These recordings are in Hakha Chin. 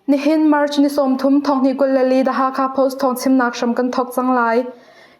Nihin March ni sawmthum thonghnih Kulhali The Hakha Post thawng chimnak hram kan thawk cang lai.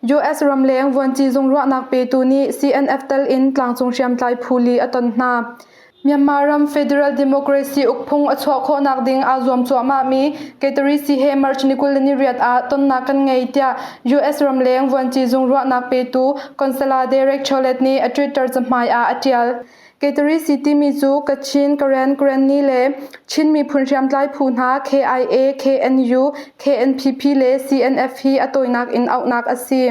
US ramleng vuanci zung ruahnak petu nih CNF tel in tlangcung hriamtlai phu li a ton hna. Myanmar ram federal democracy ukphung a chuah khawhnak ding aa zuam cuahmahmi Kaitarisi he March ni kul le ni riat ah tonnak kan ngei tiah US ramleng vuanci zung ruahnak petu Consular Derek Chollet nih a Twitter cahmai ah a ṭial. Kaitarisi timi cu Kachin, Karen, Karenni le Chin miphun hriamtlai phu hna KIA, KNU, KNPP le CNF hi a tawinak in auhnak a si.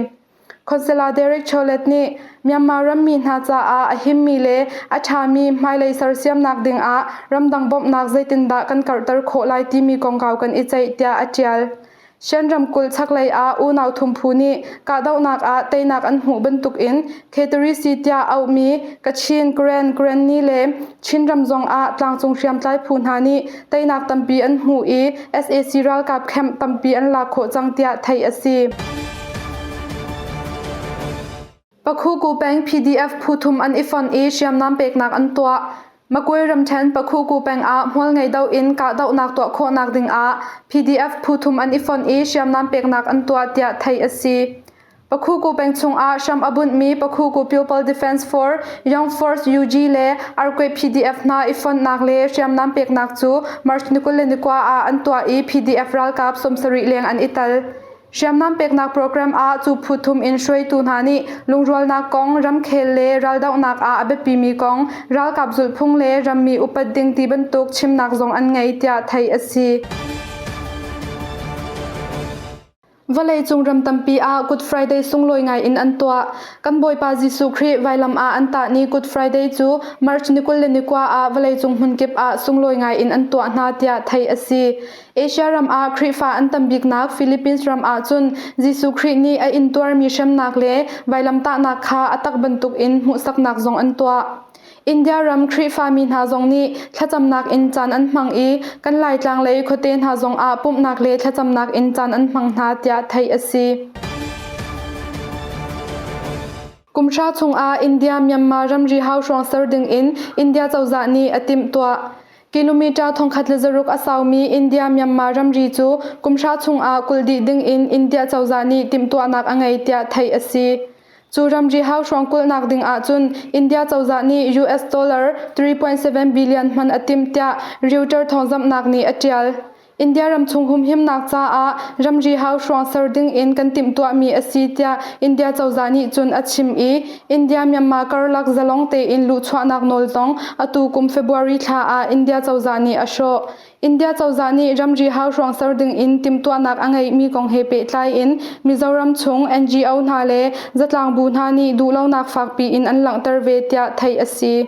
Consular Derek Chollet nih Myanmar rammi hna caah a himmi le a ṭhami hmailei sersiamnak dingah ramdang bawmhnak zeitindah kan karhter khawh lai timi kongkau kan i ceih tiah a ṭial. Shan ramkulh chaklei ah unau thumphu nih kahdohnak ah teinak an hmuh bantukin Kheteri-si tiah auhmi Kachin Grand Granny le Chinram zongah tlangcung hriamtlai phu hna nih teinak tampi an hmu i sac ralkap camp tampi an lak khawh cang tiah theih a si. Pakhuku peng PDF phu thum an i fonh i hriamnam peknak an tuah. Makuai ramṭhen Pakhuku peng ah hmual ngei do in kahdohnak tuah khawhnak ding ah PDF phu thum an i fonh i hriamnam peknak an tuah tiah theih a si. Pakhuku peng chungah hram a bunhmi Pakhuku Pupil Defence Force, Young Force UG le Arkwei PDF hna i fonhnak le hriamnam peknak cu March ni kul le ni kua ah an tuah i PDF ralkap sawmsarih leng an i tel. Hriamnam peknak program ah cu phu thum in hruaitu hna nih lungrualnak kong, ramkhel le raldohnak ah a biapimi kong, ralkap zulhphung le rammi upat ding ti bantuk chimnak zong an ngei tiah theih a si. Vawleicung ram tampi ah Good Friday sunglawi ngaiin an tuah. Kan Bawipa Jesuh Khrih vailam ah an tah ni Good Friday cu March ni kul le ni kua ah vawleicung hmunkip ah sunglawi ngaiin an tuah hna tiah theih a si. Asia ram ah Khrihfa an tam biknak Philippines ram ah cun Jesuh Khrih nih a intuarmi hremnak le vailam tahnak kha a tak bantukin hmuhsaknak zong an tuah. India ram Khrihfami hna zong nih thlacamnak in caan an hmang i kan Laitlang lei khuate hna zongah pumhnak le thlacamnak in caan an hmang hna tiah theih a si. Kumhra chungah India Myanmar ramri hau hrawng ser dingin India cozah nih a timhtuah. Kilometer thongkhat le zaruk a saumi India Myanmar ramri cu kumhra chungah kul dih dingin India cozah nih timhtuahnak a ngei tiah theih a si. Cu ramri hauhrawng kulhnak ding ahcun India cozah nih US dollar 3.7 billion hman a timh tiah Reuters thawngzamhnak nih a ṭial. India ramchung humhimnak caah ramri hauhrawng ser ding in kan timhtuahmi a si tiah India cozah nih cun a chim i India-Myanmar karlak zalong tein luhchuahnak nawltong atu kum February thla ah India cozah nih a hrawh. India cozah nih ramri hauhruang ser dingin timhtuahnak a ngeihmi kong he pehtlai in Mizoram chung NGO hna le zatlang bu hna nih duhlonak fakpi in an langhter ve tiah theih a si.